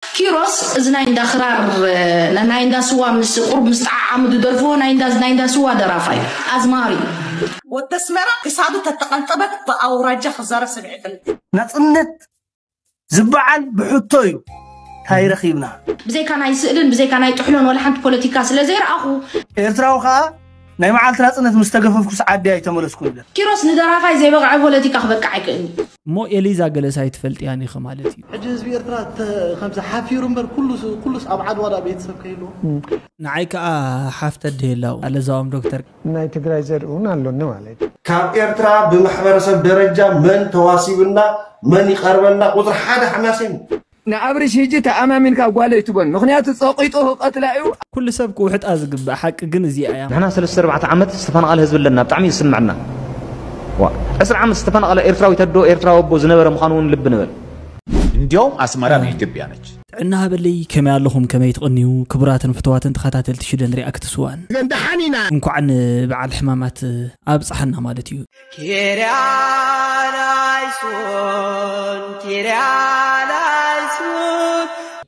ኪሮስ እዚ ናይ እንዳ ክራር ናይ እንዳ ስዋ ምስ ቁሩብ ምስ ጠዓዓሙ ዝደርፍዎ ናይ እንዳ ናይ እንዳ ስዋ ደራፋይ ኣዝማሪ። ወዲ ኣስመራ ክሳዱ ተተቀንጠበት ብኣውራጃ ክዛረብ ሰሚዐክን። ናጽነት ዝባዓል ብሕቶ እዩ ታይ ረኪብና። ብዘይካ ናይ ስእልን ብዘይካ ናይ ጥሕሎን ወላሓንቲ ፖለቲካ ስለዘይረኣኹ። ኤርትራዊ ከኣ ናይ መዓልቲ ናጽነት ምስ ተገፈፍኩ ሰዓት ድያ ኣይተመለስኩን ኢለን። ኪሮስ ንደራፋይ ዘይበቕዐ ፖለቲካ ክበቅዕ ኣይክእልን'ዩ። እሞ ኤሊዛ ገለስ ኣይትፈልጥያን ኢኺ ማለት ኢዩ። ሕጂ ህዝቢ ኤርትራ ከምዚ ሓፊሩ እምበር ኩሉስ ኩሉስ ኣብ ዓድዋ ድኣ ቤተሰብ ከይህልዎ። ንዓይ ከኣ ሓፍተ ኣደይ ኣላ እዉን ኣለዛኦም ዶክተር። ናይ ትግራይ ዘርኢ ውን ኣሎኒ ማለት እዩ። ካብ ኤርትራ ብማሕበረሰብ ደረጃ መን ተዋሲብና መን ይቀርበና ቁጽሪ ሓደ ሓማሴን እዩ። ንኣብርሽ ህጂ ተኣማሚንካ ጓል ኣይትበን ምክንያቱ ጸቂጡ ክቀትላ እዩ። ኩሉ ሰብ ክውሕጣ ዝግባእ ሓቂ ግን እዚኣ እያ። ንሕና ሰለስተ ኣርባዕተ ዓመት ዝተፈናቐለ ህዝቢ ኣለና ብጣዕሚ እዩ ዝስመዐና ዋእ ዕስራ ዓመት ዝተፈናቐለ ኤርትራዊት ኣዶ ኤርትራዊ ኣቦ ዝነበረ ምዃኑ እውን ልቢ ንበል። እንዲያውም ኣስመራ ናይ ኢትዮጵያ ነች። ጥዕና ሃበለይ ከመይ ኣለኹም ከመይ ትቕንዩ ክቡራትን ፍቱዋትን ተኸታተልቲ ሽደን ሪኣክትስ ዋን። ደሓን ኢና። እንኳዕ ንበዓል ሕማማት ኣብፀሐና ማለት እዩ።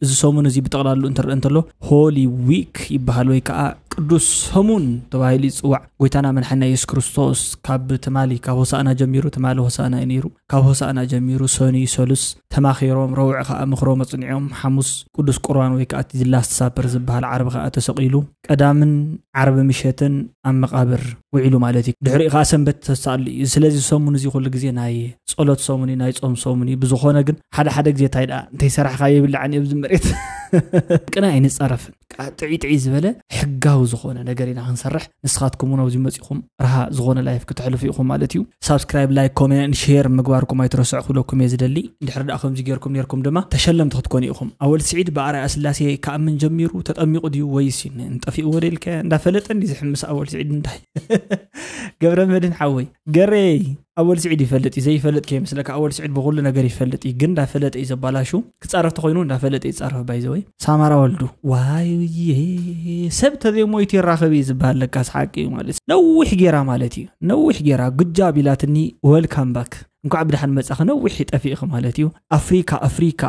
እዚ ሰሙን እዚ ብጠቕላሉ እንትረአ እንተሎ ሆሊ ዊክ ይበሃል ወይ ከዓ ቅዱስ ሰሙን ተባሂሉ ይፅዋዕ ጎይታና መድሓና የሱስ ክርስቶስ ካብ ትማሊ ካብ ሆሳእና ጀሚሩ ትማሊ ሆሳእና እዩ ነይሩ ካብ ሆሳእና ጀሚሩ ሰኒ ሰሉስ ተማኺሮም ረውዕ ከዓ ምኽሮም ኣፅኒዖም ሓሙስ ቅዱስ ቁርባን ወይ ከዓ እቲ ላስት ሳፐር ዝበሃል ዓርቢ ከዓ ተሰቂሉ ቀዳምን ዓርቢ ምሸትን ኣብ መቃብር ውዒሉ ማለት እዩ ድሕሪኡ ከዓ ሰንበት ተሳሉ እዩ ስለዚ ሰሙን እዚ ኩሉ ግዜ ናይ ጸሎት ሰሙን እዩ ናይ ጾም ሰሙን እዩ ብዝኾነ ግን ሓደ ሓደ ግዜ እንታይ ደኣ እንተይሰራሕካ የብላዕን እዩ ኣብዚ መሬት ቅነ ኣይንጸረፍን ጥዒጥዒ ዝበለ ሕጋዊ ዝኾነ ነገር ኢና ክንሰርሕ ንስኻትኩም እውን ኣብዚ ኢኩም ረሃ ዝኮነ ላይፍ ክተሕልፉ ኢኩም ማለት እዩ ሳብስክራይብ ላይክ ኮሜን ሼር ምግባርኩም ኣይትረስዑ ክብለኩም እየ ዝደሊ እንድሕር ደኣ ከምዚ ጌርኩም ኔርኩም ድማ ተሸለምቲ ክትኮኑ ኢኩም ኣወል ስዒድ ብኣርኣያ ስላሴ ክኣምን ጀሚሩ ተጠሚቁ ድዩ ወይስ ጠፊእዎ ዶ ኢልካዮ እንዳፈለጠ እንዲ ዝሕምስ ኣወል ስዒድ እንታይ ገብረ መድህን ሓወይ ገሬ ኣወል ስዒድ ይፈልጥ እዩ ዘይፈልጥ ከይመስለካ ኣወል ስዒድ ብኩሉ ነገር ይፈልጥ እዩ ግን እንዳፈለጠ እዩ ዘባላሹ ክፃረፍ ተኮይኑ እንዳፈለጠ ይፃረፍ ባይዘወይ ሳማራ ወልዱ ዋይ ሰብ ተዘይሞይቱ ይራኸብ እዩ ዝበሃል ለካ ስሓቂ እዩ ማለት እዩ። ነዊሕ ጌራ ማለት እዩ ነዊሕ ጌራ ጉጃብ ኢላትኒ ወልካም ባክ እንኳዕ ብድሓን መፃኺ ነዊሕ ጠፊእኺ ማለት እዩ ኣፍሪካ ኣፍሪካ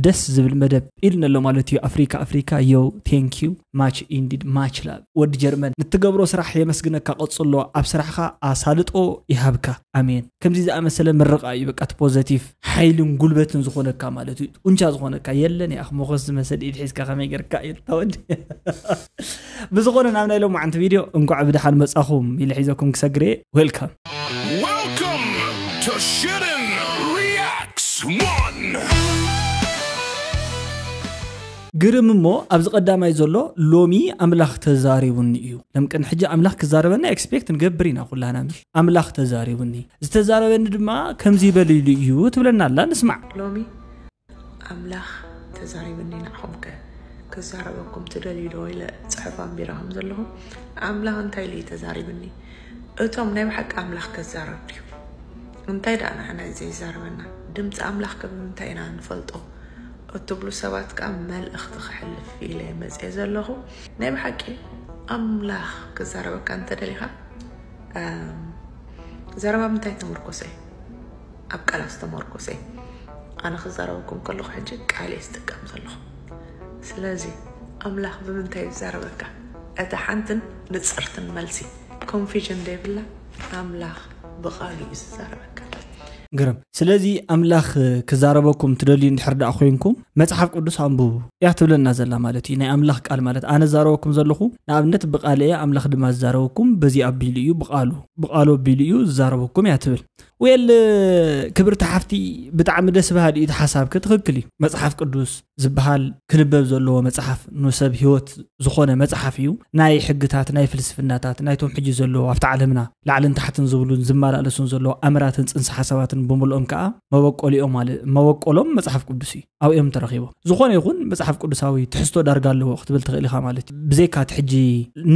ደስ ዝብል መደብ ኢልኒ ኣሎ ማለት እዩ ኣፍሪካ ኣፍሪካ ዮው ቴንክ ዩ ማች ኢንዲድ ማች ላቭ ወዲ ጀርመን ንትገብሮ ስራሕ የመስግነካ ቀጽሎ ኣብ ስራሕካ ኣሳልጦ ይሃብካ ኣሜን ከምዚ ዝኣመሰለ ምርቃ እዩ በቃ እቲ ፖዘቲቭ ሓይልን ጉልበትን ዝኾነካ ማለት እዩ ጡንቻ ዝኾነካ የለን ያኽ ሞኸስ ዝመሰል ኢድ ሒዝካ ከመይ ጌርካ እዩ ታወዲ ብዝኾነ ናብ ናይ ሎማዓንቲ ቪድዮ እንኳዕ ብድሓን መጻኹም ኢለ ሒዘኩም ክሰግር እየ ዌልካም Welcome to Shittin Reacts One! ግርም እሞ ኣብዚ ቀዳማይ ዘሎ ሎሚ ኣምላኽ ተዛሪቡኒ እዩ ለምቅን ሕጂ ኣምላኽ ክዛረበና ኤክስፔክት ንገብር ኢና ኩላና ምስ ኣምላኽ ተዛሪቡኒ ዝተዛረበኒ ድማ ከምዚ በልሉ እዩ ትብለና ኣላ ንስማዕ ሎሚ ኣምላኽ ተዛሪብኒ ንዓኹም ከ ክዛረበኩም ትደልዩ ዶ ኢለ ፅሑፍ ኣንቢረ ከም ዘለኹም ኣምላኽ እንታይ ኢሉ እዩ ተዛሪብኒ እቶም ናይ ብሓቂ ኣምላኽ ከዛረብ ድዩ እንታይ ደኣ ንዓና እዩ ዘይዛረበና ድምፂ ኣምላኽ ከ ብምንታይ ኢና ንፈልጦ እትብሉ ሰባት ከዓ መልእኽቲ ክሕልፍ ኢለ መፅየ ዘለኹ ናይ ብሓቂ ኣምላኽ ክዛረበካ እንተደሊኻ ዘረባ ምንታይ ተመርኮሰ እዩ ኣብ ቃላት ዝተመርኮሰ እዩ ኣነ ክዛረበኩም ከለኹ ሕጂ ቃል እየ ዝጥቀም ዘለኹ ስለዚ ኣምላኽ ብምንታይ እዩ ዝዛረበካ እታ ሓንትን ንፅርትን መልሲ ኮንፊዥን ዘይብላ ኣምላኽ ብቃሉ እዩ ዝዛረበካ ግርም ስለዚ ኣምላኽ ክዛረበኩም ትደልዩ እንድሕር ደኣ ኮንኩም መጽሓፍ ቅዱስ ኣንብቡ እያ ትብለና ዘላ ማለት እዩ ናይ ኣምላኽ ቃል ማለት ኣነ ዛረበኩም ዘለኹ ንኣብነት ብቃል እየ ኣምላኽ ድማ ዝዛረበኩም በዚ ኣቢሉ እዩ ብቃሉ ብቃሉ ኣቢሉ እዩ ዝዛረበኩም እያ ትብል ዌል ክብርቲ ሓፍቲ ብጣዕሚ ደስ በሃሊ እዩ እቲ ሓሳብኪ ትኽክል እዩ መፅሓፍ ቅዱስ ዝበሃል ክንበብ ዘለዎ መፅሓፍ ንሰብ ሂወት ዝኾነ መፅሓፍ እዩ ናይ ሕግታት ናይ ፍልስፍናታት ናይቶም ሕጂ ዘለዎ ኣብቲ ዓለምና ላዕልን ታሕትን ዝብሉን ዝመላለሱን ዘለዎ ኣምራትን ፅንሰ ሓሳባትን ብምልኦም ከዓ መበቆሊኦም መበቆሎም መፅሓፍ ቅዱስ እዩ ኣብኡ እዮም ተረኪቦም ዝኾነ ይኹን መፅሓፍ ቅዱሳዊ ትሕዝቶ ዳርጋ ኣለዎ ክትብል ትኽእል ኢኻ ማለት እዩ ብዘይካ እቲ ሕጂ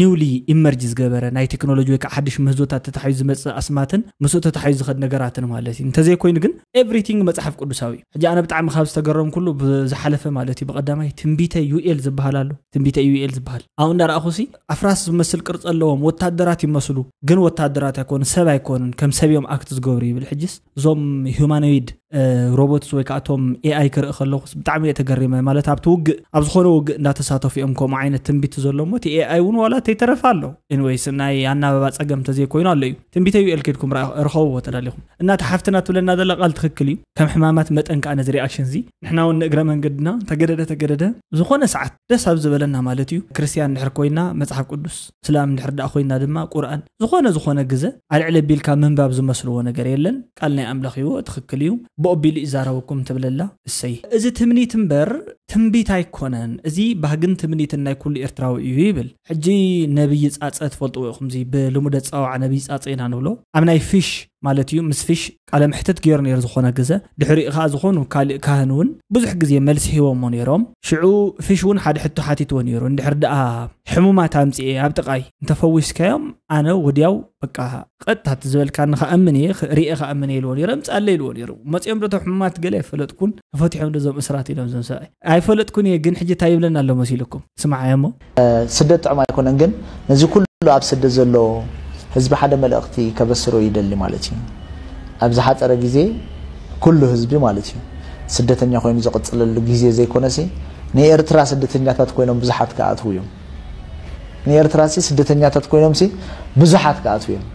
ኒውሊ ኢመርጅ ዝገበረ ናይ ቴክኖሎጂ ወይ ከዓ ሓድሽ ምህዞታት ተታሓዩ ዝመፅእ ኣስማትን ምስኡ ተታሓዩ ዝኸድ ነገራትን ማለት እዩ እንተዘይኮይኑ ግን ኤቭሪቲንግ መፅሓፍ ቅዱሳዊ እዩ ሕጂ ኣነ ብጣዕሚ ካብ ዝተገረምኩሉ ብዝሓለፈ ማለት እዩ ብቀዳማይ ትንቢተ ዩኤል ዝበሃል ኣሎ ትንቢተ ዩኤል ዝበሃል ኣብኡ እንዳረኣኹ ሲ ኣፍራስ ዝመስል ቅርፂ ኣለዎም ወታደራት ይመስሉ ግን ወታደራት ኣይኮኑ ሰብ ኣይኮኑን ከም ሰብ እዮም ኣክት ዝገብሩ ይብል ሕጅስ እዞም ሁማኖይድ ሮቦትስ ወይ ከዓ እቶም ኤኣይ ክርኢ ከለኹስ ብጣዕሚ እየ ተገሪመ ማለት ኣብቲ ውግእ ኣብ ዝኾነ ውግእ እንዳተሳተፉ እዮም ከምኡ ዓይነት ትንቢት ዘሎ እሞ እቲ ኤኣይ እውን ዋላ ተይተረፈ ኣሎ ኤንወይስ ናይ ኣናበባ ፀገም ተዘይኮይኑ ኣሎ እዩ ትንቢተ ዩኤል ኬድኩም ርኸብዎ ተዳሊኹም እና እቲ ሓፍትና ትብለና ዘላ ቃል ትክክል እዩ ከም ሕማማት መጠን ከዓ ነዚ ሪኣክሽን እዚ ንሕና እውን ንእግረ መንገድና ተገደደ ተገደደ ዝኾነ ሰዓት ደስ ኣብ ዝበለና ማለት እዩ ክርስትያን ድሕር ኮይና መፅሓፍ ቅዱስ ስላም እንድሕር ደኣ ኮይና ድማ ቁርኣን ዝኾነ ዝኾነ ግዘ ኣልዕል ኣቢልካ ምንባብ ዝመስልዎ ነገር የለን ቃል ናይ ኣምላኽ እዩዎ ትኽክል እዩ ብኦቢሉ ይዛረበኩም ትብለላ እሰይ እዚ ትምኒት እምበር ትንቢት ኣይኮነን እዚ ባህግን ትምኒትን ናይ ኩሉ ኤርትራዊ እዩ ይብል ሕጂ ነብዪ ጻጸ ትፈልጥዎ ኢኹም እዚ ብልሙደ ኣጸዋውዓ ነብዪ ጻጸ ኢና ንብሎ ኣብ ናይ ፊሽ ማለት እዩ ምስ ፊሽ ቃለ መሕትት ገይሩ ነይሩ ዝኾነ ግዘ ድሕሪኡ ከኣ ዝኾኑ ካልእ ካህን እውን ብዙሕ ግዜ መልሲ ሂቦሞ ነይሮም ሽዑ ፍሽ እውን ሓደ ሕቶ ሓቲትዎ ነይሩ እንድሕር ደኣ ሕሙማት ኣምጺኤ ኣብ ጥቃይ እንተፈዊስካዮም ኣነ ወድያው በቃ ቀጥታ እቲ ዝበልካኒ ከኣምን እየ ርኤ ከኣምን እየ ኢልዎ ነይረ ምጻለ ኢልዎ ነይሩ መጺኦም ዶ እቶም ሕሙማት ገለ ኣይፈለጥኩን ተፈቲሖም ዶ እዞም እስራት ኢሎም እዞም ሰብኣይ ኣይፈለጥኩን እየ ግን ሕጂ እንታይ ይብለና ኣሎ መሲልኩም ስምዓዮ እሞ ስደት ጥዑም ኣይኮነን ግን ነዚ ኩሉ ኣብ ስደት ዘሎ ህዝቢ ሓደ መልእኽቲ ከበስሮ ይደሊ ማለት እዩ ኣብ ዝሓፀረ ግዜ ኩሉ ህዝቢ ማለት እዩ ስደተኛ ኮይኑ ዝቕፅለሉ ግዜ ዘይኮነሲ ንኤርትራ ስደተኛታት ኮይኖም ብዙሓት ክኣትዉ እዮም ንኤርትራሲ ስደተኛታት ኮይኖምሲ ብዙሓት ክኣትዉ እዮም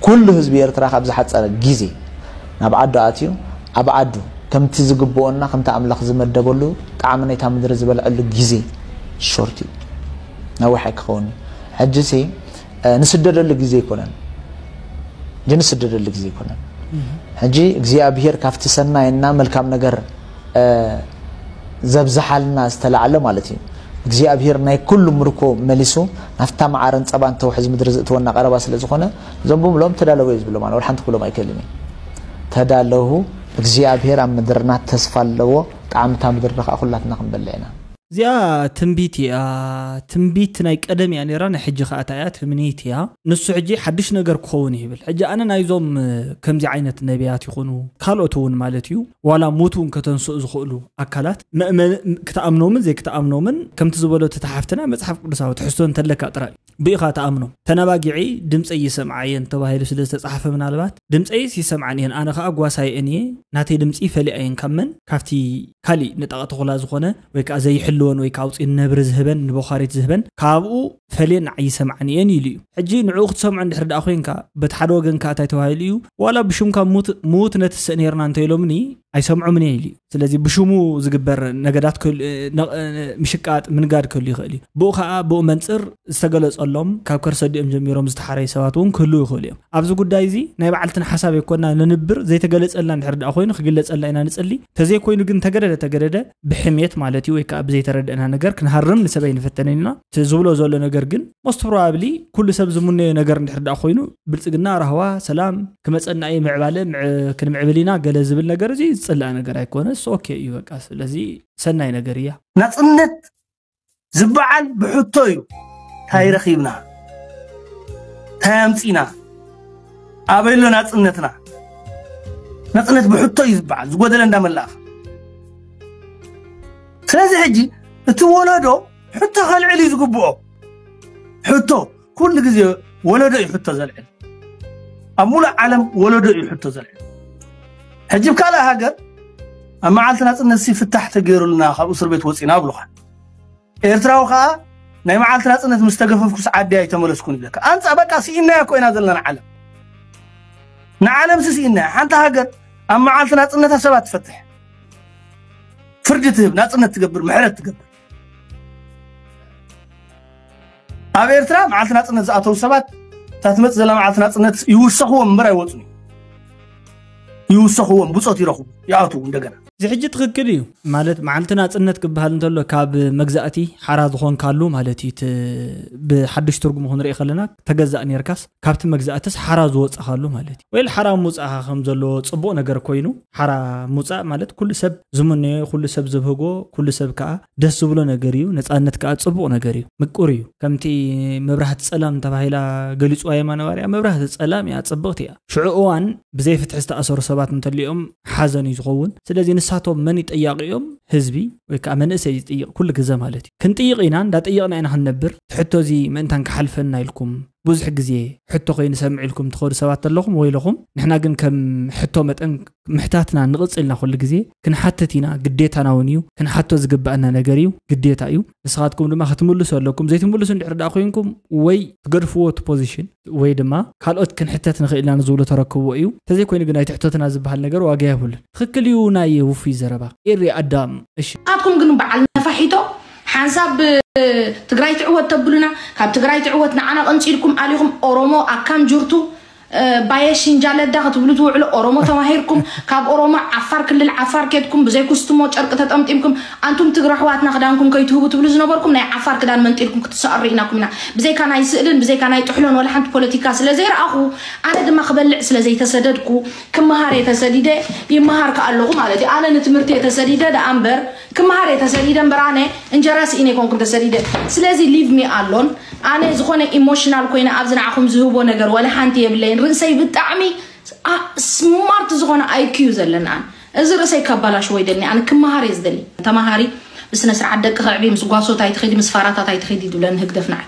ኩሉ ህዝቢ ኤርትራ ካብ ዝሓጸረ ግዜ ናብ ዓዱ ኣትዩ ኣብ ዓዱ ከምቲ ዝግብኦና ከምቲ ኣምላኽ ዝመደበሉ ጣዕሚ ናይታ ምድሪ ዝበልዐሉ ግዜ ሾርት እዩ ነዊሕ ኣይክኸውን እዩ ሕጂሲ ንስደደሉ ግዜ ኣይኮነን ሕጂ ንስደደሉ ግዜ ኣይኮነን ሕጂ እግዚኣብሄር ካብቲ ሰናይ እና መልካም ነገር ዘብዝሓልና ዝተላዕለ ማለት እዩ እግዚኣብሄር ናይ ኩሉ ምርኮ መሊሱ ናፍታ መዓረን ጸባን ተውሕዝ ምድሪ ዝእትወና ቀረባ ስለ ዝኾነ እዞም ብምሎም ተዳለዉ እዩ ዝብሎም ኣነ ወላ ሓንቲ ክብሎም ኣይክእልን እዩ ተዳለዉ እግዚኣብሄር ኣብ ምድርና ተስፋ ኣለዎ ጣዕሚ እታ ምድሪ ከዓ ኩላትና ክንበልዕ ኢና እዚኣ ትንቢት ኢያ ትንቢት ናይ ቀደም ኢያ ኔራ ናይ ሕጂ ካኣ ታይ ኢያ ትምኒት ኢያ ንሱ ሕጂ ሓድሽ ነገር ክኸውን ኢዩ ይብል ሕጂ ኣነ ናይዞም ከምዚ ዓይነት ነብያት ይኹኑ ካልኦት እውን ማለት ኢዩ ዋላ ሙቱ እውን ከተንስኡ ዝኽእሉ ኣካላት ክትኣምኖምን ዘይክትኣምኖምን ከምቲ ዝበሎ እቲ ሓፍትና መፅሓፍ ቅዱሳዊ ትሕዝቶ እንተለካ ጥራይ ብኢኻ ትኣምኖም ተነባጊዒ ድምፀይ ይሰምዓ እየን ተባሂሉ ስለ ዝተፃሓፈ ምናልባት ድምፀይስ ይሰምዓን እየን ኣነ ከዓ ጓሳይኤን እየ ናተይ ድምፂ ይፈልያ እየን ካብ መን ካብቲ ካሊእ ንጣቕ ተኹላ ዝኾነ ወይ ከዓ ዘይሕልወን ወይ ከዓ ኣውፂኡ ንነብሪ ዝህበን ንበዃሪት ዝህበን ካብኡ ፈልየ ንዓይ ይሰምዓኒ እየን ኢሉ እዩ ሕጂ ንዕኡ ክትሰምዖ እንድሕር ደኣ ኮንካ በቲ ሓደ ወገን ከኣ እንታይ ተባሂሉ እዩ ዋላ ብሹምካ ሙት ምዉት ነትስእ ነርና እንተ ኢሎምኒ ኣይሰምዖምን እየ ኢሉ እዩ ስለዚ ብሹሙ ዝግበር ነገዳት ክህሉ እ፣ ነቕ- እ፣ ምሽቃጥ ምንጋድ ክህሉ ይኽእል እዩ ብኡ ከኣ ብኡ መንጽር ዝተገለጸሎም ካብ ከርሰ ኣዲኦም ጀሚሮም ዝተሓረዩ ሰባት እውን ክህልው ይኽእሉ እዮም ኣብዚ ጉዳይ እዚ ናይ በዓልትና ሓሳብ ኣይኮና ነንብር ዘይተገለጸልና እንድሕር ደኣ ኮይኑ ክግለጸልና ኢና ንጽሊ ተዘይኮይኑ ግን ተገደደ ተገደደ ብሕሜት ማለት እዩ ወይ ከዓ ብዘይተረድእና ነገር ክንሃርም ንሰብ ኣይንፈተንን ኢና እቲ ዝብሎ ዘሎ ነገር ግን ሞስት ፕሮባብሊ ኩሉ ሰብ ዝምነዮ ነገር እንድሕር ዳኣ ኮይኑ ብልፅግና ራህዋ ሰላም ክመፀና እዩ ምዕባለ ክንምዕብል ኢና ገለ ዝብል ነገር እዚ ዝፅላእ ነገር ኣይኮነስ ኦኬ እዩ በቃ ስለዚ ሰናይ ነገር እያ ናፅነት ዝበዓል ብሕቶ እዩ ታይ ረኺብና ታይ ኣምፂና ኣበይ ኣሎ ናፅነትና ናፅነት ብሕቶ እዩ ዝበዓል ዝጎደለ እንዳመላእኻ ስለዚ ሕጂ እቲ ወለዶ ሕቶ ከልዕል እዩ ዝግብኦ ሕቶ ኩሉ ግዜ ወለዶ እዩ ሕቶ ዘልዕል ኣብ ሙሉእ ዓለም ወለዶ እዩ ሕቶ ዘልዕል ሕጂ ብ ካልእ ሃገር ኣብ መዓልቲ ናፅነት ሲ ፍታሕ ተገይሩልና ካብ እስር ቤት ወፂና ኣብሉካ ኤርትራዊ ከዓ ናይ መዓልቲ ናፅነት ምስ ተገፈፍኩስ ዓዲ ኣይተመለስኩን ይብለካ ኣንፃ በቃ ስኢናያ እኮ ኢና ዘለና ንዓለም ንዓለም ሲ ስኢናያ ሓንቲ ሃገር ኣብ መዓልቲ ናፅነታ ሰባት ትፈትሕ ፍርዲ ትህብ ናፅነት ትገብር ምሕረት ትገብር ኣብ ኤርትራ መዓልቲ ናፅነት ዝኣተው ሰባት እታ ትመፅእ ዘላ መዓልቲ ናፅነት ይውሰኽዎም እምበር ኣይወፁን ይውሰኽዎም ብፆት ይረኽቡ ይኣትዉ እንደገና እዚ ሕጂ ትኽክል እዩ ማለት መዓልቲ ናፅነት ክበሃል እንተሎ ካብ መግዛእቲ ሓራ ዝኾንካሉ ማለት እዩ ብሓዱሽ ትርጉሙ ክንርኢ ከለና ተገዛእ ነርካስ ካብቲ መግዛእትስ ሓራ ዝወጻኻሉ ማለት እዩ ወይ ሓራ ምውጻእኻ ከም ዘለዎ ጽቡቕ ነገር ኮይኑ ሓራ ምውጻእ ማለት ኩሉ ሰብ ዝምነዮ ኩሉ ሰብ ዝብህጎ ኩሉ ሰብ ከዓ ደስ ዝብሎ ነገር እዩ ነፃነት ከዓ ጽቡቕ ነገር እዩ ምቁር እዩ ከምቲ መብራህቲ ጸላም ተባሂላ ገሊጽዋ የማነ ባርያ መብራህቲ ጸላም እያ ጽብቕቲ እያ ሽዑ እዋን ብዘይ ፍትሒ ዝተኣሰሩ ሰባት እንተልኦም ሓዘን እዩ ዝኸውን ስለዚ ንሳቶም መን ይጠያቂ እዮም ህዝቢ ወይ ከዓ መንእሰይ ዝጥይቕ ኩሉ ግዘ ማለት እዩ ክንጥይቕ ኢና እንዳጠየቕና ኢና ክንነብር ትሕቶ እዚ ምእንታን ክሓልፈና ኢልኩም ብዙሕ ግዜ ሕቶ ኮይኑ ሰምዒልኩም ትኸዱ ሰባት ተለኹም ወይለኹም ንሕና ግን ከም ሕቶ መጠን ምሕታትና ንቕጽል ኢና ኩሉ ግዜ ክንሓትት ኢና ግዴታና ውን እዩ ክንሓቶ ዝግበኣና ነገር እዩ ግዴታ እዩ ንስኻትኩም ድማ ክትምልሱ ኣለኩም ዘይትምልሱ እንድሕር ደኣ ኮይንኩም ወይ ትገድፍዎ እቲ ፖዚሽን ወይ ድማ ካልኦት ክንሕተት ንኽእል ኢና ንዝብሉ ተረክብዎ እዩ እንተዘይ ኮይኑ ግን ኣይትሕተቱና ዝብሃል ነገር ዋጋ የብሉን። ትኽክል እዩ ናየ ውፉይ ዘረባ ኤሪ ኣዳም እሺ። ናትኩም ግን በዓል ነፋሒቶ ሓንሳብ ትግራይ ትዕወት ተብሉና ካብ ትግራይ ትዕወት ንዓና ቀንጺልኩም ኣሊኹም ኦሮሞ ኣካም ጅርቱ ባየ ሽንጃለዳ ክትብሉ ትውዕሉ ኦሮሞ ተማሂርኩም ካብ ኦሮሞ ዓፋር ክልል ዓፋር ኬድኩም ብዘይ ኩስትሞ ጨርቂ ተጠምጢምኩም ኣንቱም ትግረ ኣሕዋትና ክዳንኩም ከይትህቡ ትብሉ ዝነበርኩም ናይ ዓፋር ክዳን መንጢልኩም ክትሰቐሩ ርኢናኩም ኢና ብዘይካ ናይ ስእልን ብዘይካ ናይ ጥሕሎን ወላ ሓንቲ ፖለቲካ ስለ ዘይረኣኹ ኣነ ድማ ክበልዕ ስለ ዘይተሰደድኩ ክመሃር እየ ተሰዲደ ይመሃር ከ ኣለኹ ማለት እዩ ኣነ ንትምህርቲ እየ ተሰዲደ ደኣ እምበር ክምሃር እየ ተሰዲደ እምበር ኣነ እንጀራ ስኢነ ኣይኮንኩን ተሰዲደ ስለዚ ሊቭ ሚ ኣሎን ኣነ ዝኾነ ኢሞሽናል ኮይነ ኣብዚ ንዓኹም ዝህቦ ነገር ዋላ ሓንቲ የብለይን ርእሰይ ብጣዕሚ ኣ- ስማርት ዝኾነ ኣይኪ እዩ ዘለኒ ኣነ እዚ ርእሰይ ከባላሽዎ ይደልኒ ኣነ ክምሃር እየ ዝደሊ ተምሃሪ ብስነ ስርዓት ደቂ ከዕቢ ምስ ጓሶት ኣይትኺዲ ምስ ፋራታት ኣይትኺዲ ይብለኒ ህግደፍ ንዓይ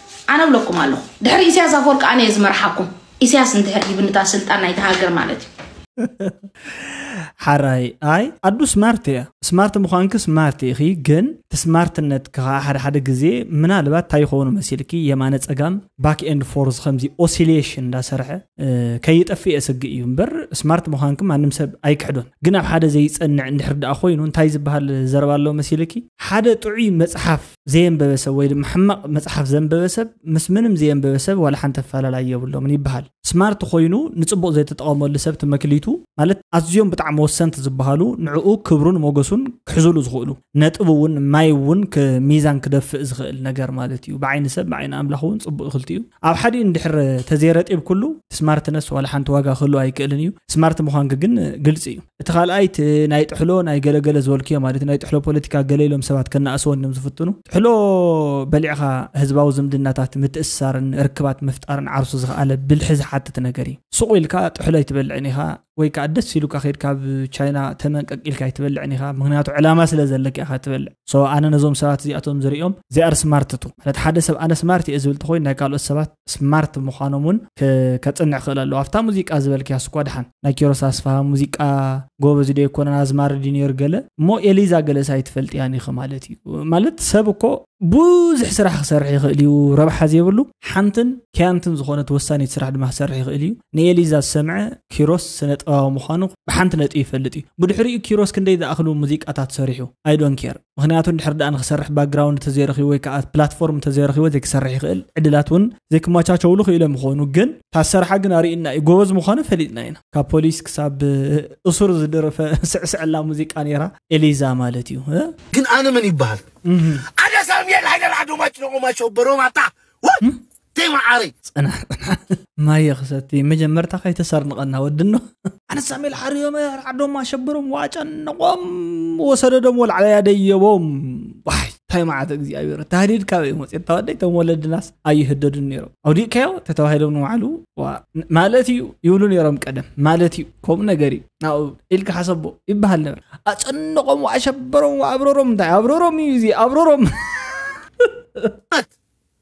ኣነ እብለኩም ኣለኹ ድሕሪ ኢሳያስ ኣፈወርቂ ኣነ እየ ዝመርሓኩም ኢሳያስ እንድሕር ሂብንታ ስልጣን ናይቲ ሃገር ማለት እዩ ሓራይ ኣይ ኣዱ ስማርት እያ ስማርት ምዃንኪ ስማርት ኢኺ ግን እቲ ስማርትነት ከዓ ሓደ ሓደ ግዜ ምናልባት እንታይ ይኸውን መሲልኪ የማነ ፀጋም ባክ ኤንድ ፎርዝ ከምዚ ኦሲሌሽን እንዳሰርሐ ከይጠፍእ የስግእ እዩ እምበር ስማርት ምዃንኪ ማንም ሰብ ኣይክሕዶን ግን ኣብ ሓደ ዘይፀንዕ እንድሕር ደኣ ኮይኑ እንታይ ዝበሃል ዘረባ ኣሎ መሲልኪ ሓደ ጥዑይ መፅሓፍ ዘየንበበ ሰብ ወይ ድማ ሕማቕ መፅሓፍ ዘንበበ ሰብ ምስ ምንም ዘየንበበ ሰብ ዋላ ሓንቲ ኣፈላላይ የብሎምን ይበሃል ስማርት ኮይኑ ንፅቡቕ ዘይተጠቐመሉ ሰብ ትመክሊቱ ማለት ኣዝዮም ብጣዕሚ ወሰንቲ ዝበሃሉ ንዕኡ ክብሩን ሞገሱን ክሕዙሉ ዝኽእሉ ነጥብ እውን ማይ እውን ሚዛን ክደፍእ ዝኽእል ነገር ማለት እዩ ብዓይኒ ሰብ ብዓይኒ ኣምላኽ እውን ፅቡቅ ይኽልቲ እዩ ኣብ ሓዲኡ እንድሕር ተዘይረጢብ ኩሉ ስማርትነስ ዋላ ሓንቲ ዋጋ ክህሉ ኣይክእልን እዩ ስማርት ምዃንክ ግን ግልፂ እዩ እቲ ካልኣይ እቲ ናይ ጥሕሎ ናይ ገለገለ ዝበልክዮ ማለት ናይ ጥሕሎ ፖለቲካ ገለ ኢሎም ሰባት ከናእስዎ እዮም ዝፍትኑ ጥሕሎ በሊዕኻ ህዝባዊ ዝምድናታት ምትእስሳርን ርክባት ምፍጣርን ዓርሱ ዝኸኣለ ብልሒ ዝሓትት ነገር እዩ ሱቕ ኢልካ ጥሕሎ ኣይትበልዕን ኢኻ ወይ ከዓ ደስ ኢሉካ ከድ ካብ ቻይና ተመን ቀቂልካ ኣይትበልዕን ኢኻ ምክንያቱ ዕላማ ስለ ዘለካ ኢኻ ትበልዕ ሶ ኣነ ነዞም ሰባት እዚኣቶም ዝሪኦም ዚኣር ስማርት ቱ ማለት ሓደ ሰብ ኣነ ስማርት እየ ዝብል ተኮይኑ ናይ ካልኦት ሰባት ስማርት ምዃኖም ውን ከጽንዕ ክእል ኣለዎ ኣብታ ሙዚቃ ዝበልክያስ እኳ ድሓን ናይ ኪሮስ ኣስፍሃ ሙዚቃ ጎበዝ ዶ ኣይኮነን ኣዝማሪ ድዩ ኔሩ ገለ እሞ ኤሊዛ ገለስ ኣይትፈልጥያን ኢኺ ማለት እዩ ማለት ሰብ እኮ ብዙሕ ስራሕ ክሰርሕ ይኽእል እዩ ረብሓ ዘይብሉ ሓንትን ከያንትን ዝኾነት ወሳኒት ስራሕ ድማ ክሰርሕ ይኽእል እዩ ንኤሊዛ ዝሰምዐ ኪሮስ ስነ ጥበባዊ ምዃኑ ብሓንቲ ነጥቢ ይፈልጥ እዩ ብድሕሪኡ ኪሮስ ክንደይ ዝኣኽሉ ሙዚቃታት ሰሪሑ ኣይ ዶን ኬር ምክንያቱ እንድሕር ደኣ ንክሰርሕ ባክግራውንድ ተዘይረኪቡ ወይ ከዓ ፕላትፎርም ተዘይረኪቡ ዘይክሰርሕ ይክእል ዕድላት እውን ዘይክመቻቸውሉ ክኢሎም ይኮኑ ግን ታሰርሓ ግን ኣርእዩና እዩ ጎበዝ ምኳኑ ፈሊጥና ኢና ካብ ፖሊስ ክሳብ እሱር ዝደረፈ ስዕስዕላ ሙዚቃ ነይራ ኤሊዛ ማለት እዩ ግን ኣነ መን ይበሃል ኣደሳም የል ሃይደር ኣዶማች ነቆማቸው በሮማታ ተይ መዓረይ ጽናሕ ጽናሕ ማየ ክሰቲ መጀመርታ ከይተሰርንቐና ወድኖ ኣነሳሜል ሓርዮም ዓዶም ኣሸብሮም ዋጨነቖም ወሰደዶም ወላዕለያ ደየቦም ዋይ እንታይ መዓት እግዚኣብሔር ታህዲድ ካበይ መፅት ተወደይ ቶም ወለድናስ ኣይህደዱን ነይሮም ኣውዲእካዮ ተተባሂሎም ንባዕሉ ማለት እዩ ይብሉ ነይሮም ቀደም ማለት እዩ ከምኡ ነገር እዩ ናብኡ ኢልካ ሓሰቦ ይበሃል ነበር ኣፀንቆም ኣሸበሮም ኣብረሮም እንታይ ኣብረሮም እዩ እዚ ኣብረሮም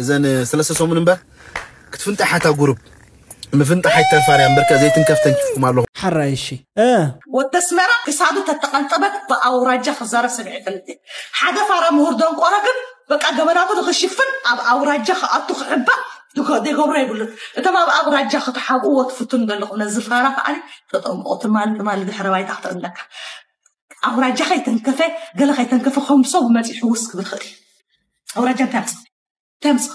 እዘን ሰለስተ ሰሙን እምበር ክትፍንጣሓ እታ ጉሩብ ምፍንጣሕ ኣይተርፋን እያ እምበርከ ዘይትንከፍ ተንኪፍኩም ኣለኹም። ሓራይ እሺ እ። ወዲ ኣስመራ ክሳዱ ተተቀንጠበት ብኣውራጃ ክዛረብ ሰሚዐ ኣይፈልጥን ሓደ ፋራ ምሁር ደንቆሮ ግን በቃ ገበናቱ ንክሽፍን ኣብ ኣውራጃ ክኣቱ ክሕባእ ዘይገብሮ የብሉን እቶም ኣብ ኣውራጃ ክትሓብእዎ ትፍትኑ ዘለኹም ነዚ ፋራ ከዓኒ ተጠምቆ ትማሊ ትማሊ ድሕረ ባይታ ክትእለካ ኣውራጃ ከይተንከፈ ገለ ከይተንከፈ ከም ሰብ መጺኡ ሕውስ ክብል ይኽእል እዩ ኣውራጃ እንታይ ኣምፅኣ እንታይ ኣምፅኣ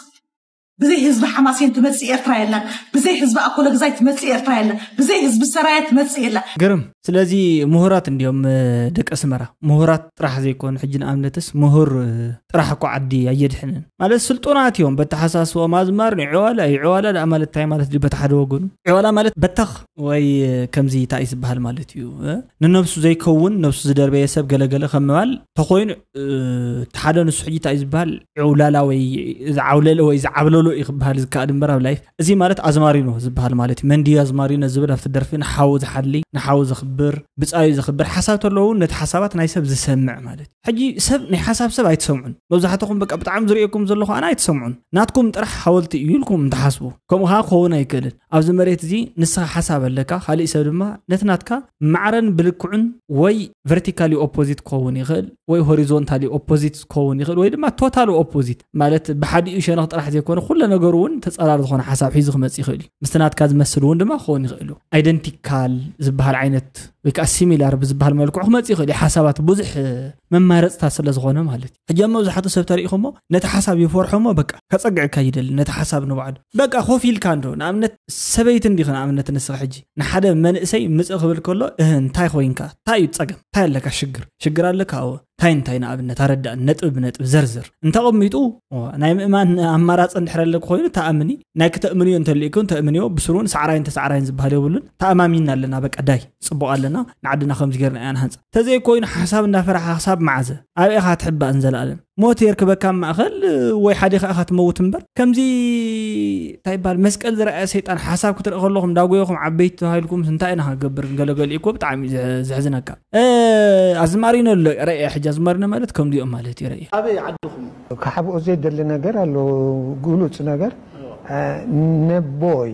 ብዘይ ህዝቢ ሓማሴን ትመፅእ ኤርትራ የላን ብዘይ ህዝቢ ኣኮለግዛይ ትመፅእ ኤርትራ የላን ብዘይ ህዝቢ ሰራየ ትመፅእ የላ ግርም ስለዚ ምሁራት እንዲዮም እ፣ ደቂ ኣስመራ ምሁራት ጥራሕ ዘይኮኑ ሕጂ ንኣብነትስ ምሁር እ፣ ጥራሕ እኮ ዓዲ ኣየድሕንን ማለት ስልጡናት እዮም በተሓሳስቦኦም ኣዝማር ንዕዋላ እዩ ዕዋላ ደኣ ማለት እንታይ ማለት ድዩ በቲ ሓደ ወገኑ ዕዋላ ማለት በተኽ ወይ እ፣ ከምዚ እንታይ እዩ ዝበሃል ማለት እዩ እ፣ ንነብሱ ዘይከውን ነብሱ ዝደርበየ ሰብ ገለገለ ከም ምባል ተኮይኑ እቲ ሓደ ንሱ ሕጂ እንታይ ዝበሃል ዕውላላ ወይ ዝዓውለለ ወይ ዝዓብለሎ እዩ ክበሃል ዝከኣል እምበር ኣብ ላይፍ እዚ ማለት ኣዝማሪኖ ዝበሃል ማለት እዩ መንዲ ኣዝማሪኖ ዝብል ኣብቲ ደርፊ ንሓዉ ዝሓሊ ንሓዉ ዘኽብር ብፃዩ ዘኽብር ሓሳብ ተለዎ እውን ነቲ ሓሳባት ናይ ሰብ ዝሰምዕ ማለት እዩ ሕጂ ሰብ ናይ ሓሳብ ሰብ ኣይትሰምዑን መብዛሕትኹም በቃ ብጣዕሚ ዝርእየኩም ዘለኹ ኣነ ኣይትሰምዑን ናትኩም ጥራሕ ሓወልቲ እዩ ኢልኩም እንትሓስቡ ከምኡ ከዓ ክኸውን ኣይክእልን ኣብዚ መሬት እዚ ንስኻ ሓሳብ ኣለካ ካሊእ ሰብ ድማ ነቲ ናትካ ማዕረን ብልክዑን ወይ ቨርቲካሊ ኦፖዚት ክኸውን ይኽእል ወይ ሆሪዞንታሊ ኦፖዚት ክኸውን ይኽእል ወይ ድማ ቶታሊ ኦፖዚት ማለት ብሓዲኡ ሸነኽ ጥራሕ ዘይኮነ ኩለ ነገሩ እውን ተፀራሪ ዝኾነ ሓሳብ ሒዙ ክመፅእ ይኽእል እዩ ምስቲ ናትካ ዝመስል እውን ድማ ክኸውን ይኽእል እዩ ኣይደንቲካል ዝበሃል ዓይነት ወይ ከዓ ሲሚላር ብዝበሃል መልክዑ ክመፅእ ይኽእል እዩ ሓሳባት ብዙሕ መማረፅታት ስለ ዝኾነ ማለት እዩ ሕጂ ኣብ መብዛሕትኡ ሰብ ተሪኢኹሞ ነቲ ሓሳብ ይፈርሖሞ በቃ ከጸግዕካ ይደሊ ነቲ ሓሳብ ንባዕሉ በቃ ኮፍ ኢልካ እንዶ ንኣብነት ሰበይቲ እንዲኺ ንኣብነት ንስኺ ሕጂ ንሓደ መንእሰይ ምጽእ ክብል ከሎ እህ እንታይ ኮይንካ እንታይ እዩ ጸገም እንታይ ኣለካ ሽግር ሽግር ኣለካ ኣወ እንታይ እንታይ ንኣብነት ኣረዳእኒ ነጥቢ ብነጥቢ ዘርዝር እንተቐሚጡ ናይ ምእማን ኣማራጺ እንድሕር ኣለኩ ኮይኑ ተኣምኒ ናይ ክተእምንዮ እንተልእኩ እንተእምንዮ ብስሩን ሳዕራይን ተሳዕራይን ዝበሃል የብሉን ተኣማሚንና ኣለና በቃ ዳይ ጽቡቕ ኣለና ንዓድና ከምዚ ጌርና ኢና ንሃንጻ ተዘይኮይኑ ሓሳብ እንዳፈራሕኻ ክሳብ መዓዘ ኣበይ ኢኻ ትሕባእ ንዘለኣለም ሞት የርክበካ ኣብ ማእኸል ወይ ሓዲኻ ኢኻ ትመውት እምበር ከምዚ እንታይ ይበሃል መስቀል ዝረኣየ ሰይጣን ሓሳብ ክትርኢ ከለኹም እንዳጎየኹም ዓበይቲ ተባሂልኩምስ እንታይ ኢና ክንገብር ገለገሊኡ እኮ ብጣዕሚ እዩ ዘሕዝነካ ኣዝማሪኖ ኣሎ ረእየ ሕጂ ኣዝማሪኖ ማለት ከምዚኦም ማለት እዩ ረእየ ኣበይ ዓድኹም ክሓብኦ ዘይደሊ ነገር ኣሎ ግሉፅ ነገር ነቦይ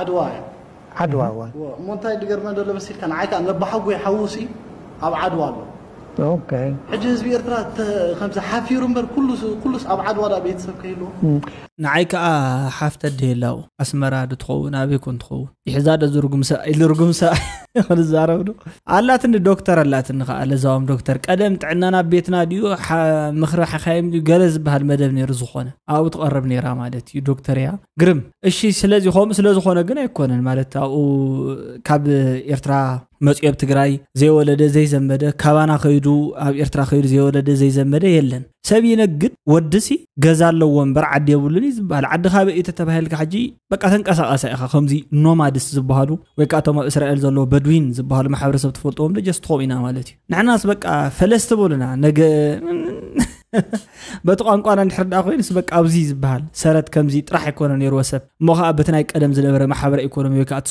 ዓድዋ እያ። ዓድዋ እዋ። እዎ እሞ እንታይ ድገርመ ደሎ መሲልካ ንዓይ ከኣ ነባሓጎይ ሓዉሲ ኣብ ዓድዋ ኣሎ። ኦከይ። ሕጂ ህዝቢ ኤርትራ ከምዚ ሓፊሩ እምበር ኩሉ ኩሉስ ኣብ ዓድዋ ደኣ ቤተሰብ ከይህልዎ። ንዓይ ከኣ ሓፍ ተድህላ ኣብኡ ኣስመራ ዶ ትኸውን ኣበይ ኮን ትኸውን ይሕዛ ዶ ዝርጉምሳ ኣይልርጉምሳ ክንዛረብ ዶ ኣላትኒ ዶክተር ኣላትኒ ከኣ ለዛዎም ዶክተር ቀደም ጥዕናና ኣብ ቤትና ድዩ ምኽሪ ሓካይም ድዩ ገለ ዝበሃል መደብ ነይሩ ዝኾነ ኣብኡ ትቐርብ ነይራ ማለት እዩ ዶክተር እያ ግርም እሺ ስለዚ ከምኡ ስለዝኾነ ግን ኣይኮነን ማለት ኣብኡ ካብ ኤርትራ መፅዮ ኣብ ትግራይ ዘይወለደ ዘይዘመደ ካባና ከይዱ ኣብ ኤርትራ ከይዱ ዘይወለደ ዘይዘመደ የለን ሰብ ይነግድ ወድሲ ገዛ ኣለዎ እምበር ዓዲ የብሉን እዩ ዝበሃል ዓዲ ካበ እዩ ተተባሂልካ ሕጂ በቃ ተንቀሳቐሰ ኢኻ ከምዚ ኖማድስ ዝበሃሉ ወይ ከዓ እቶም ኣብ እስራኤል ዘለዎ በድዊን ዝበሃሉ ማሕበረሰብ ትፈልጥዎም ዶ ጀስት ከምኡ ኢና ማለት እዩ ንሕናስ በቃ ፈለስቲ በሉና ነገ በቲ ቋንቋና እንድሕር ደኣ ኮይኑስ በቃ ኣብዚ ዝበሃል ሰረት ከምዚ ጥራሕ ኣይኮነ ነይርዎ ሰብ እሞ ከዓ በቲ ናይ ቀደም ዝነበረ ማሕበረ ኢኮኖሚ ወይ ከዓ እቲ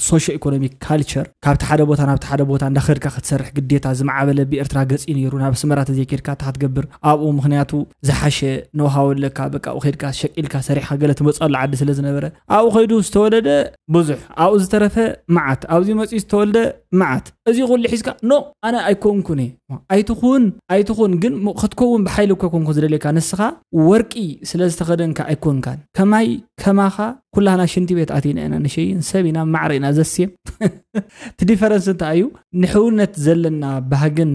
ሶሾ ኢኮኖሚክ ካልቸር ካብቲ ሓደ ቦታ ናብቲ ሓደ ቦታ እንዳኸድካ ክትሰርሕ ግዴታ ዝማዕበለ ብኤርትራ ገፂ ነይሩ ናብ ኣስመራ ተዘይከድካ እታ ክትገብር ኣብኡ ምክንያቱ ዝሓሸ ነውሃወለካ በቃ ኣብኡ ከድካ ሸቂልካ ሰሪሕካ ገለ ትመፅኣሉ ዓዲ ስለ ዝነበረ ኣብኡ ከይዱ ዝተወለደ ብዙሕ ኣብኡ ዝተረፈ መዓት ኣብዚ መፅኡ ዝተወልደ መዓት እዚ ኩሉ ሒዝካ ኖ ኣነ ኣይኮንኩን እየ ኣይትኹን ኣይትኹን ግን ክትከውን ብሓይሊ እኮ ኮንኩ ዝደልየካ ንስኻ ወርቂ ስለ ዝተኸደንካ ኣይኮንካን ከማይ ከማኻ ኩላህና ሽንቲ ቤት ኣቲና ኢና ንሸይን ሰብ ኢና ማዕረ ኢና ዘስም እቲ ዲፈረንስ እንታይ እዩ ንሕውነት ዘለና ባህግን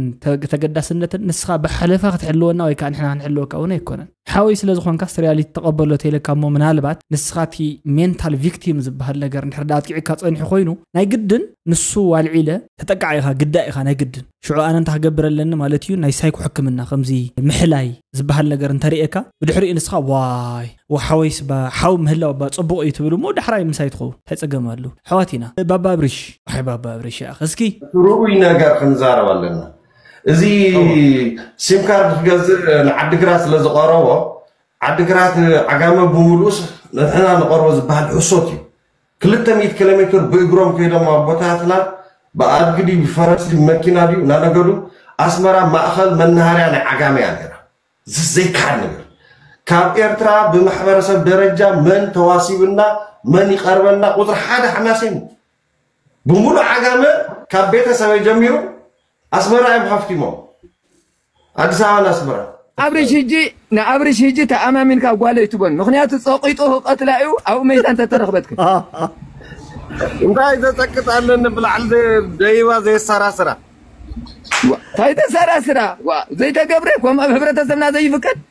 ተገዳስነትን ንስኻ ብሓለፋ ክትሕልወና ወይ ከዓ ንሕና ክንሕልወካ እውን ኣይኮነን ሓወይ ስለ ዝኾንካስ ሪያሊቲ ተቐበሎ ተይለካ እሞ ምናልባት ንስኻ እቲ ሜንታል ቪክቲም ዝብሃል ነገር እንድሕር ደኣ ኣጥቂዕካ ጸኒሑ ኮይኑ ናይ ግድን ንሱ ኣልዒለ ተጠቃዕ ኢኻ ግዳይ ኢኻ ናይ ግድን ሽዑ ኣነ እንታይ ክገብር ኣለኒ ማለት እዩ ናይ ሳይኮ ሕክምና ከምዚ ምሕላይ ዝብሃል ነገር እንተርእየካ ብድሕሪኡ ንስኻ ዋይ ወሓወይስ እባ ሓው ምህላው እባ ጽቡቕ እዩ ትብል እሞ ዳሕራይ ምሳይ ትኸውን እንታይ ጸገም ኣለዎ ኣሕዋት ኢና ባባ ኣብሪሽ ዋይ ባባ ኣብሪሽ ይኣኽ እስኪ እቲ ርኡይ ነገር ክንዛረብ ኣለና እዚ ሲም ካርድ ክገዝእ ንዓዲግራት ስለ ዝቐረቦ ዓዲግራት ዓጋመ ብምሉኡስ ንሕና ንቐርቦ ዝበሃል ሕሶት እዩ ክልተ ሚእቲ ኪሎ ሜትር ብእግሮም ከይዶም ኣቦታትና ብኣድጊ ድዩ ብፈረስ ድዩ መኪና ድዩ እናነገዱ ኣስመራ ማእኸል መናሃርያ ናይ ዓጋመ እያ ነይራ ዘይከሓድ ነገር ካብ ኤርትራ ብማሕበረሰብ ደረጃ መን ተዋሲብና መን ይቐርበና ቁፅሪ ሓደ ሓማሴን እዩ ብምሉእ ዓጋመ ካብ ቤተሰበይ ጀሚሩ ኣስመራ እዮም ሃፍቲሞም ኣዲስ ኣበባን ኣስመራን። ኣብርሽ ህጂ ንኣብርሽ ህጂ ተኣማሚንካ ጓል ኣይትበን ምክንያቱ ጸቂጡ ክቀትላ እዩ ኣብኡ መይታ እንተተረክበትክ እንታይ ዘጸቅጥ ኣለኒ ብላዕሊ ደይባ ዘየሰራስራ እንታይ ተሰራስራ ዘይተገብረ ከምኡ ኣብ ሕብረተሰብና ዘይፍቀድ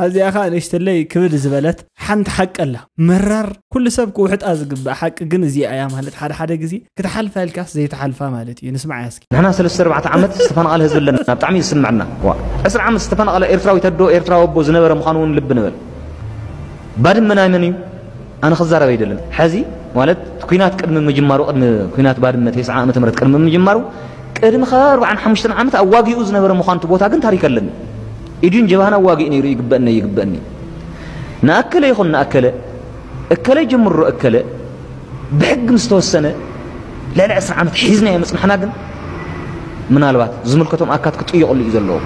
ኣብዚኣ ከኣ ንእሽተለይ ክብድ ዝበለት ሓንቲ ሓቂ ኣላ። መራር ኩሉ ሰብ ክውሕጣ ዝግባእ ሓቂ ግን እዚኣ እያ ማለት ሓደ ሓደ ግዜ ክትሓልፋ ኢልካስ ዘይትሓልፋ ማለት እዩ። ንስምዓያ እስኪ። ንሕና ሰለስተ ኣርባዕተ ዓመት ዝተፈናቐለ ህዝቢ ኣለና ብጣዕሚ እዩ ዝስመዐና ዋእ ዕስራ ዓመት ዝተፈናቐለ ኤርትራዊት ኣዶ ኤርትራዊ ኣቦ ዝነበረ ምዃኑ እውን ልቢ ንበል ባድመ ናይ መን እዩ ኣነ ክዛረብ ኣይደልን ሐዚ ማለት ኩናት ቅድሚ ምጅማሩ ቅድሚ ኩናት ባድመ ቴስዓ ዓመተ ምህረት ቅድሚ ምጅማሩ ቅድሚ ከ ኣርብዓን ሓሙሽተን ዓመት ኣዋጊኡ ዝነበረ ምዃኑ እቲ ቦታ ግን ታሪክ ኣለኒ ኢድዩን ጀብሃን ኣዋጊኡ ነይሩ ይግበእኒ ይግበእኒ ንኣከለ ይኹን ንኣከለ እከለ ጀምሮ እከለ ብሕጊ ምስ ተወሰነ ልዕሊ ዕስራ ዓመት ሒዝናዮ ምፅናሕና ግን ምናልባት ዝምልከቶም ኣካት ክጥየቕሉ እዩ ዘለዎ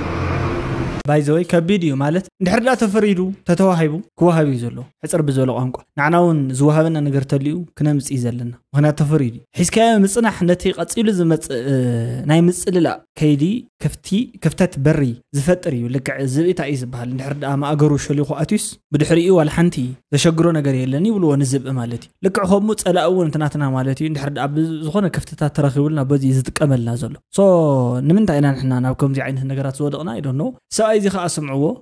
ባይዘወይ ከቢድ እዩ ማለት እንድሕር ዳ ተፈሪዱ ተተዋሂቡ ክወሃብ እዩ ዘለዎ ሕጽር ብዝበለ ቋንቋ፣ ንዓና እውን ዝወሃበና ነገር ተልዩ ክነምጽ እዩ ዘለና። ምክንያት ተፈርዩ ድዩ? ሒዝካዮ ምጽናሕ ነቲ ቀጺሉ ዝመጽእ ናይ ምጽልላእ ከይዲ ክፍቲ፣ ክፍተት በሪ፣ ዝፈጥር እዩ። ልክዕ ዝብኢ ታይ እዩ ዝበሃል? እንድሕር ድኣ ማእገሩ ሾሊኹ ኣትዩስ ብድሕሪኡ ዋላ ሓንቲ ዘሸግሮ ነገር የለን ይብልዎ ንዝብኢ ማለት እዩ። ልክዕ ከምኡ ጸላኢ እውን እቲ ናትና ማለት እዩ እንድሕር ድኣ ብዝኾነ ክፍተታት ተረኺቡልና በዚ እዩ ዝጥቀመልና ዘሎ። So ንምንታይ ኢና ንሕና ናብ ከምዚ ዓይነት ነገራት ዝወደቕና I don't know። እዚ ሰብኣይ እዚ ከኣ ስምዕዎ።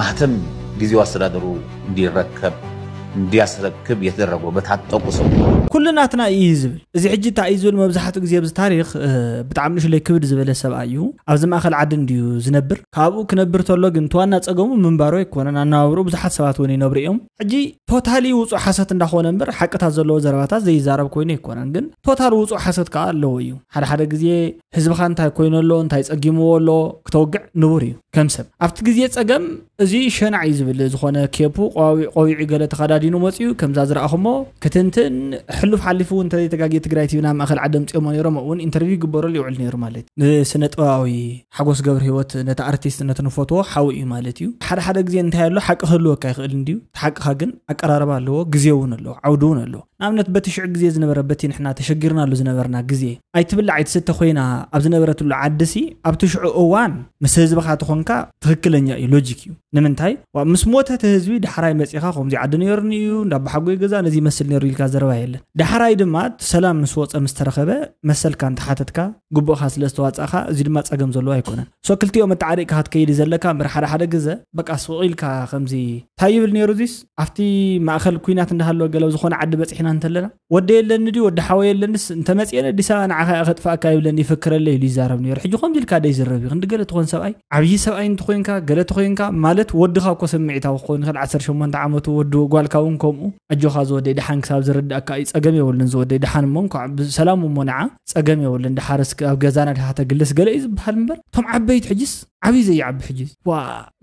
ማህተም ጊዜው ኣስተዳደሩ እንዲረከብ እንዲያስረክብ የተደረገው በታጠቁ ሰው ኩሉ ናትና እዩ እዩ ዝብል እዚ ሕጂ እንታይ እዩ ዝብል መብዛሕትኡ ግዜ ኣብዚ ታሪክ ብጣዕሚ ንእሽለይ ክብድ ዝበለ ሰብኣይ እዩ ኣብዚ ማእኸል ዓዲ እንድዩ ዝነብር ካብኡ ክነብር ተሎ ግን እቲ ዋና ፀገሙ ምንባሩ ኣይኮነን ኣነባብሩ ብዙሓት ሰባት እውን ይነብሩ እዮም ሕጂ ቶታሊ ውፁእ ሓሰት እንዳኾነ እምበር ሓቅታት ዘለዎ ዘረባታት ዘይዛረብ ኮይኑ ኣይኮነን ግን ቶታል ውፁእ ሓሰት ከዓ ኣለዎ እዩ ሓደ ሓደ ግዜ ህዝብኻ እንታይ ኮይኑ ኣሎ እንታይ ጸጊምዎ ኣሎ ክተውግዕ ንቡር እዩ ከም ሰብ ኣብቲ ግዜ ጸገም እዚ ሸናዕ እዩ ዝብል ዝኾነ ኬፑ ቆቢዑ ገለ ተኸዳዲኑ መጽዩ ከምዛ ዝረኣኹሞ ክትንትን ሕሉፍ ሓሊፉ እውን እንተዘይተጋግየ ትግራይ ቲቪ ናብ ማእኸል ዓዲ ኣምጽኦሞ ነይሮም ኣብኡ እውን ኢንተርቪው ይግበረሉ ይውዕል ነይሩ ማለት እዩ ንስነ ጥበባዊ ሓጎስ ገብረሂወት ነቲ ኣርቲስት ነቲ ንፈትዎ ሓው እዩ ማለት እዩ ሓደ ሓደ ግዜ እንታይ ኣሎ ሓቂ ክህልወካ ይኽእል እንድዩ እቲ ሓቅኻ ግን ኣቀራርባ ኣለዎ ግዜ እውን ኣለዎ ዓውዲ እውን ኣለዎ ንኣብነት በቲ ሽዑ ግዜ ዝነበረ በቲ ንሕና ተሸጊርናሉ ዝነበርና ግዜ ኣይትብላዕ ኣይትስተ ኮይና ኣብ ዝነበረትሉ ዓዲሲ ኣብቲ ሽዑ እዋን ምስ ህዝብኻ ተኾንካ ትኽክለኛ እዩ ሎጂክ እዩ ንምንታይ ምስ ሞተ እቲ ህዝቢ ዳሕራይ መፂኻ ከምዚ ዓዲ ነይሩኒ እዩ እንዳባሓጎይ ገዛ ነዚ ይመስል ነይሩ ኢልካ ዘረባ የለን ዳሕራይ ድማ ሰላም ምስ ወፀ ምስ ተረኸበ መሰልካ እንተሓተትካ ግቡእካ ስለ ዝተዋፃእካ እዚ ድማ ፀገም ዘለዎ ኣይኮነን So ክልቲኦም ኣተዓሪቅካ ክትከይድ ዘለካ እምበር ሓደ ሓደ ግዘ በቃ ሱቅ ኢልካ ከምዚ ታይ ይብል ነይሩ እዚስ ኣብቲ ማእከል ኩናት እንዳሃለወ ገለ ዝኾነ ዓዲ በጺሕና እንተለና ወደይ ኣለኒ ድዩ ወዲ ሓወይ ኣለንስ እንተመጽኤ ነዲስ ኣበባ ንዓኻ እየ ከጥፍኣካ ይብለኒ ይፍክረለይ ኢሉ ይዛረብ ነይሩ ሕጂ ከምዚ ኢልካ ዶ ይዝረብ እዩ ክንዲ ገለ ትኾን ሰብኣይ ዓብዪ ሰብኣይ እንተኾይንካ ገለ ተኾይንካ ማለት ወድኻ እኮ ስምዒታዊ ክኾን ይኽእል ዓሰርተ ሸሞንተ ዓመቱ ወዲ ጓልካ እውን ከምኡ ኣጆኻ ዝወደይ ደሓን ክሳብ ዝርድኣካ እዩ ጸገም የብሉን ዝወደይ ደሓን እሞ እንኳዕ ብሰላም እሞ ንዓ ጸገም የብሉን ድሓርስ ኣብ ገዛና ድካ ተግልስ ገለ እዩ ዝበሃል እምበር እቶም ዓበይቲ ሕጅስ ዓብይ ዘይዓቢ ሕጂ ዋ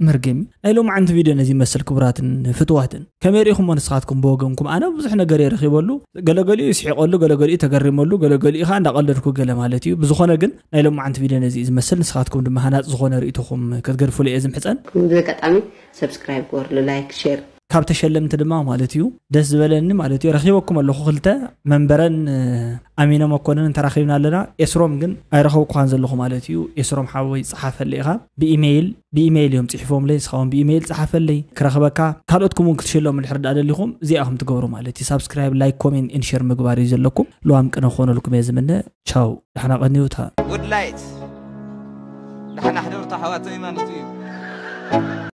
መርገም እዩ ናይ ሎም ዓንቲ ቪድዮ ነዚ መስል ክቡራትን ፍትዋትን ከመይ ርኢኹሞ ንስኻትኩም ብወገንኩም ኣነ ብዙሕ ነገር እየ ረኺበሉ ገለገሊኡ ይስሒቀሉ ገለገሊኡ ተገሪመሉ ገለገሊኡ ከዓ እንዳቀለድኩ ገለ ማለት እዩ ብዝኾነ ግን ናይ ሎም ዓንቲ ቪድዮ ነዚ እዩ ዝመስል ንስኻትኩም ድማ ሃናፅ ዝኾነ ርእይቶኹም ክትገድፉሉ እየ ዝምሕፀን ከምዚ ኣጋጣሚ ሰብስክራይብ ግበርሉ ላይክ ሼር ካብ ተሸለምቲ ድማ ማለት እዩ ደስ ዝበለኒ ማለት እዩ ረኪበኩም ኣለኩ ክልተ መንበረን ኣሚነ መኮንን ተራኪብና ኣለና ኤስሮም ግን ኣይረከብኩካን ዘለኹ ማለት እዩ ኤስሮም ሓወይ ፀሓፈለይ ኢኻ ብኢሜይል ብኢሜይል እዮም ፅሒፎምለይ ንስኻ እውን ብኢሜይል ፀሓፈለይ ክረክበካ ካልኦትኩም እውን ክትሸለሙ ድሕር ዳ ደሊኹም እዚኣ ከም ትገብሩ ማለት እዩ ሳብስክራይብ ላይክ ኮሜን ኢንሸር ምግባር እዩ ዘለኩም ለዋም ቅነ ክኾነልኩም እየ ዝምነ ቻው ዳሕና ቀንዩታ ውድላይት ዳሕና ሕደርታ ኣሕዋተይ ማለት እዩ